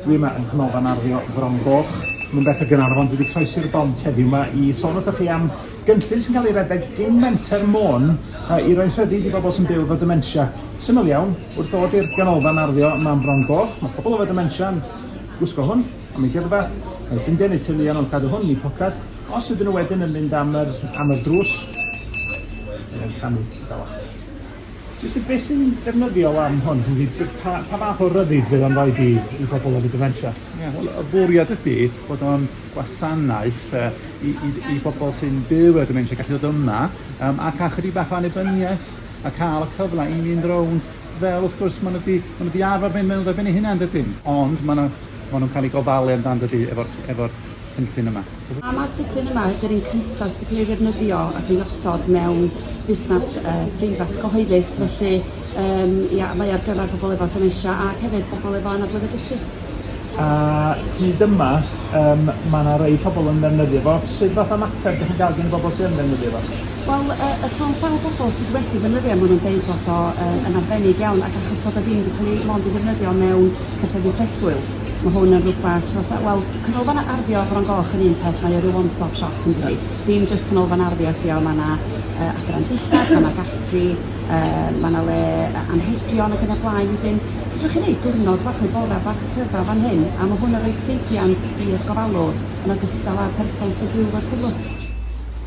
Dwi yma yng Nghanolfan Arddio Fron Goch, Nantbeth a Gaernarfon. Dwi wedi croesi'r bont heddiw yma i sôn wrthych chi am gynllun sy'n cael ei redeg gin Menter Môn uh, i roi'n rhyddid i bobl sy'n byw efo dementia. Syml iawn, wrth ddod i'r Ganolfan Arddio yma yn Fron Goch, mae pobl efo dementia yn gwisgo hwn am ei gyrfa, mae ffrindiau neu teuluon yn cadw hwn yn eu poced. Os ydyn nhw wedyn yn mynd am yr, am yr drws, yn canu, dawel. Jyst y beth sy'n ddefnyddiol am hwn ydi b- pa pa fath o ryddid fydd o'n roid i i bobl efo dementia? Ie wel y bwriad ydi bod o'n gwasanaeth yy i i d- i bobl sy'n byw efo dementia gallu dod yma yym ac â chydig bach o annibyniaeth a ca'l y cyfle i mynd rownd fel wrth gwrs ma' nw 'di ma' nw 'di arfar mynd mewn ar ben eu hunan dydyn? Ond ma' 'na ma' nw'n ca'l 'u gofalu amdan dydi efo'r efo'r cynllun yma? Pam mae'r teclyn yma ydy'r un cyntaf sydd wedi cael ei ddefnyddio ac ei osod mewn busnes uh, preifat gyhoeddus, felly um, ia, mae ar gyfer pobl efo dementia ac hefyd pobl efo anablydd y dysgu. A hyd yma, um, mae yna rei pobl yn ddefnyddio fo. Sut fath o mater ydych chi'n gael gen y bobl sy'n ddefnyddio fo? Wel, y, y llon llaw bobl sydd wedi ddefnyddio, maen nhw'n deud bod o uh, yn arbennig iawn, ac achos bod o ddim wedi cael ei mond i ddefnyddio mewn cartrefi preswyl, mae hwn yn rhywbeth, wel, Canolfan Arddio Fron Goch yn un peth mae o ryw one stop shop yndydi? Ie. Dim jyst canolfan arddio ydi o ma' 'na yy adran dillad ma' 'na gaffi yy ma' 'na le yy anrhegion ag yn y blaen wedyn fedrwch chi neud diwrnod bach neu bora' bach cryfaf fan hyn a ma' hwn yn roid seibiant i'r gofalwr yn ogystal â'r person sy'n byw 'fo'r cyflwr.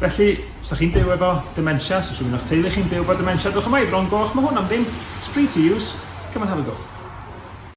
Felly, os 'dach chi'n byw efo dementia, 'sa rhywun o'ch teulu chi'n byw 'fo dementia, dewch yma i Fron Goch, ma' hwn am ddim, it's free to use, come and have a go.